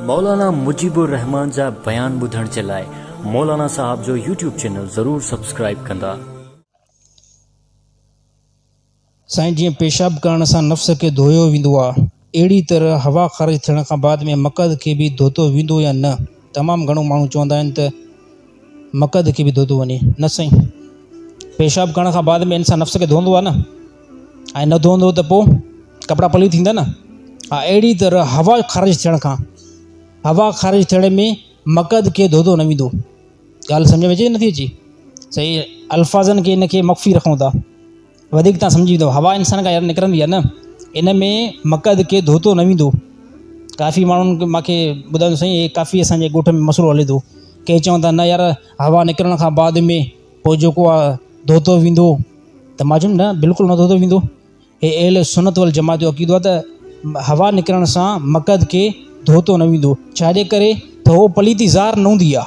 مولانا مجيب الرحمان جا بيان ٻڌڻ جي لاء مولانا صاحب جو يوٽيوب چينل ضرور سبسڪرائيب ڪندا. سائين جيئن پيشاب ڪرڻ سان نفس کي ڌويو ويندو آ اھڙي طرح ھوا خارج ٿيڻ کان بعد ۾ مقعد کي به ڌوتو ويندو يا نه؟ تمام گهڻو ماڻهو چوندا آهن ته مقعد کي به ڌوتو وڃي نه سائين پيشاب ڪرڻ کان بعد ۾ انسان نفس کي ڌوندو آهي نه ۽ نه ڌوندو ته پوء ڪپڙا پلي ٿيندا نه ها اهڙي طرح هوا خارج ٿيڻ کان هوا خارج ٿيڻ ۾ مقعد کي ڌوتو نه ويندو ڳالهه سمجھ ۾ اچي نٿي اچي صحيح الفاظن کي ان کي مخفي رکون ٿا وڌيڪ تان سمجهي ويندو هوا انسان کان يار نڪرندي آهي نه ان ۾ مقعد کي ڌوتو نه ويندو ڪافي ماڻهن ماکي ٻڌايو سائين هي ڪافي اسانجي ڳوٺ ۾ مسئلو هلي ٿو ڪي چون ٿا نه يار هوا نڪرڻ کان بعد ۾ پوء جيڪو آ ڌوتو ويندو ته ماجم نه بلڪل نه ڌوتو ويندو هي اهل سنت ول جماعت جو عقيدو ته هوا نڪرڻ سان مقعد کي ڌوتو نه ويندو ڇا جي ڪري ته هو پليتي زار نه هوندي آ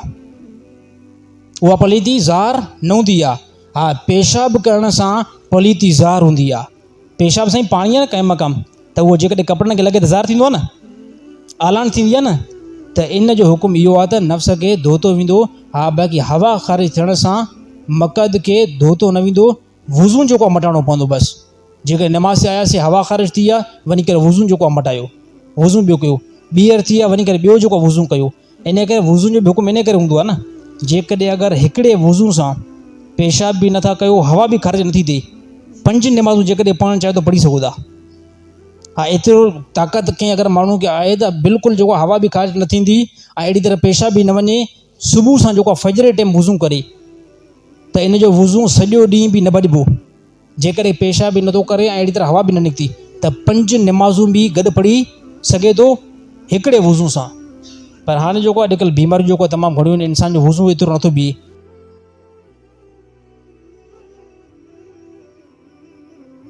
اها پليتي زار نه هوندي آ ها پيشاب ڪرڻ سان پليتي ظاهر هوندي آ پيشاب سائين پاڻي آ نه قائم مقام ته اهو جيڪڏهن ڪپڙن کي لڳي ته ظاهر ٿيندو آ نه اعلان ٿيندي آ نه ته ان جو حڪم اهو آ ته نفس کي ڌوتو ويندو ها باقي هوا خارج ٿيڻ سان مقد کي ڌوتو نه ويندو وضو جيڪو آ مٽائڻو پوندو بس جيڪڏهن نماز تي آياسي هوا خارج ٿي آ وڃي ڪري وضو جيڪو آ مٽايو وضو ٻيو ڪيو ٻيهر ٿي آ وڃي ڪري ٻيو جيڪو آ وضو ڪيو انهيء ڪري وضوء جو به حڪم انهيء ڪري هوندو آهي نه، جيڪڏهن اگر هڪڙي وضوء سان پيشاب به نه ٿا ڪيو، هوا به خارج نه ٿي ٿئي، پنج نمازون جيڪڏهن پڙهڻ چاهيو ته پڙهي سگهو ٿا. ها ايترو طاقت ڪنهن اگر ماڻهوء کي آهي ته بلڪل جيڪو آهي هوا به خارج نه ٿيندي ۽ اهڙي طرح پيشاب به نه وڃي، صبح سان جيڪو آهي فجر جي ٽيم وضوء ڪري ته ان جو وضوء سڄو ڏينهن به نه ڀڄبو. جيڪڏهن پيشاب ئي نٿو ڪري ۽ اهڙي طرح هوا به نه نڪتي ته پنج نمازون به گڏ پڙهي سگهي ٿو هڪڙي وضو سان. پر هاڻي جيڪو اڄڪلهه بيماريون جيڪو تمام گهڻيون آهن انسان جو وضو ايترو نٿو بيهي.